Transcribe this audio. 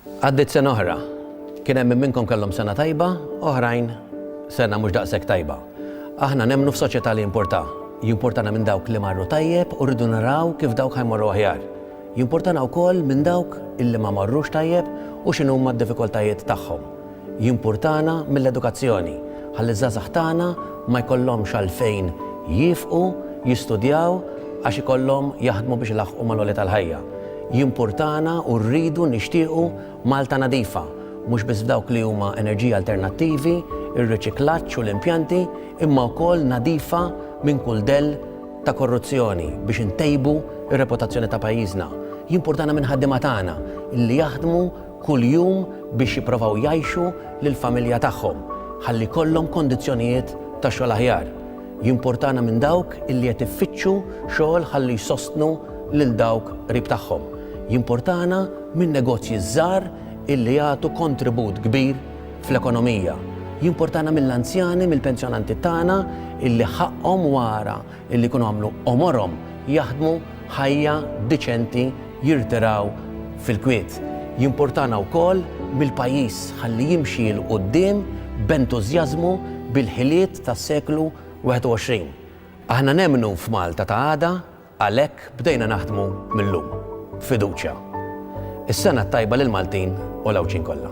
Għaddiet sena oħra. Kien hemm minn minnkom kellhom sena tajba, oħrajn sena mhux daqshekk tajba. Aħna nemmnu f'soċjetà li jimpurtà. Jimpurtana minn dawk li marru tajjeb u rridu naraw kif dawk ħa jmorru aħjar. Jimpurtana wkoll minn dawk illi ma marrux tajjeb u x'inhuma d-diffikultajiet tagħhom. Jimpurtana mill-edukazzjoni ħalli ż-żgħażagħ tagħna ma jkollhomx għalfejn jiefqu jistudjaw għax ikollhom jaħdmu biex ilaħħqu mal-għolja tal-ħajja. Jimpurtana u rridu nixtiequ Malta nadifa, mhux biss f'dawk li huma enerġiji alternattivi, ir-riċiklaġġ u l-impjanti, imma wkoll nadifa minn kull dell ta' korruzzjoni biex intejbu r-reputazzjoni ta' pajjiżna. Jimpurtana mill-ħaddiema tagħna li jaħdmu kuljum biex jipprovaw jgħixu lill-familja tagħhom ħalli jkollhom kondizzjonijiet ta' xogħol aħjar. Jimpurtana minn dawk illi qed iffittxu xogħol ħalli jsostnu lil dawk qrib tagħhom. Jimpurtana min-negozji ż-żgħar illi jagħtu kontribut kbir fl-ekonomija. Jimpurtana mill-anzjani, mill-pensjonanti tagħna illi ħaqqhom wara illi jkunu għamlu għomorhom jaħdmu ħajja diċenti jirtiraw fil-kwiet. Jimpurtana wkoll mill-pajjiż ħalli jimxi 'l quddiem b'entużjażmu bil-ħiliet tas-seklu 21. Aħna nemmnu f'Malta ta' għada għalhekk Bdejna naħdmu mil-lum, b'fiduċja. Is-Sena t-Tajba lill-Maltin u l-Għawdxin kollha.